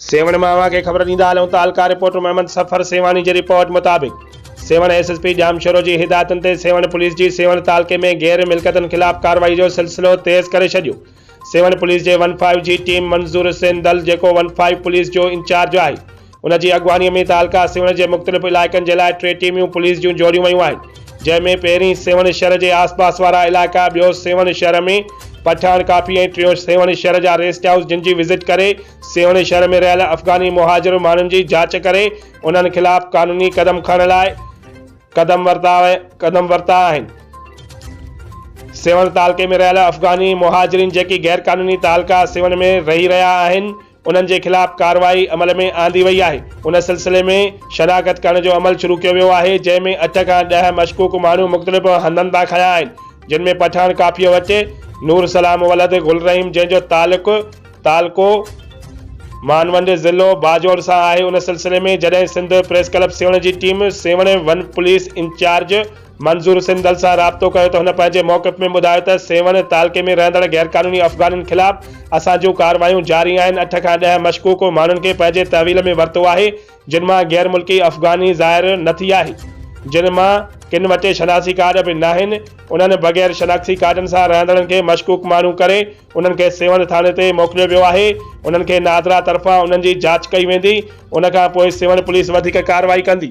سيوهڻ مان اوهان کي خبر ڏيندا هلون ته حلقا رپورٽر محمد سفر سيوهاڻي جي رپورٽ مطابق Sehwan S S P Jamshoro جي هدايتن تي سيوهڻ پوليس جي سيوهڻ تعلقي ۾ غير ملڪيتن خلاف ڪارروائي جو سلسلو تيز ڪري ڇڏيو سيوهڻ پوليس جي ون فائيو جي ٽيم منظور حسين دل جيڪو ون فائيو پوليس جو انچارج آهي ان جي اڳواڻي ۾ تعلقا سيوهڻ جي مختلف علائقن جي لاء ٽي ٽيميون پوليس جون جوڙيون ويون آهن جنهن ۾ پهرين سيوهڻ شھر جي آس پاس وارا علائقا، ٻيو سيوهڻ شھر ۾ پٺاڻ ڪافي ۽ ٽيون سيوهڻ شھر جا ريسٽ هائوس جن جي وزٽ ڪري سيوهڻ شھر ۾ رهيل افغاني مهاجر ماڻهن جي جاچ ڪري انهن خلاف قانوني قدم کڻڻ لاء قدم ورتا قدم ورتا آهن. سيوهڻ تعلقي ۾ رهيل افغاني مهاجرين جيڪي غيرقانوني تعلقا سيوهڻ ۾ رهي رهيا آهن، انهن جي خلاف ڪارروائي عمل ۾ آندي وئي آهي، ان سلسلي ۾ شناخت ڪرڻ جو عمل شروع ڪيو ويو آهي، جنهن ۾ اٺ کان ڏهه مشڪوڪ ماڻهو مختلف هنڌن تان کنيا آهن، جن ۾ پٺاڻ ڪافيء وٽ نور سلام ولد گل رحيم جنهن جو تعلق تعلقو مانونڊ ضلعو باجوڙ سان آهي، ان سلسلي ۾ جڏهن سنڌ پريس ڪلب سيوهڻ جي team Sehwan one police incharge. Manzoor Sandal سان رابطو ڪيو ته هن پنهنجي موقف ۾ ٻڌايو ته سيوهڻ تعلقي ۾ رهندڙ غيرقانوني افغانن خلاف اسان جون ڪارروايون جاري آهن اٺ کان ڏهه مشڪوڪ ماڻهن کي پنهنجي تحويل ۾ ورتو آهي جن مان غير ملڪي افغاني ظاهر نه ٿي آهي جن مان ڪن وٽ شناسي ڪارڊ به ناهن انهن بغير شناختي ڪارڊن سان رهندڙن کي مشڪوڪ ماڻهو ڪري انهن کي سيوهڻ ٿاڻي تي موڪليو ويو آهي انهن کي نادرا طرفان انهن جي جاچ ڪئي ويندي ان کان پوء سيوهڻ پوليس وڌيڪ ڪارروائي ڪندي.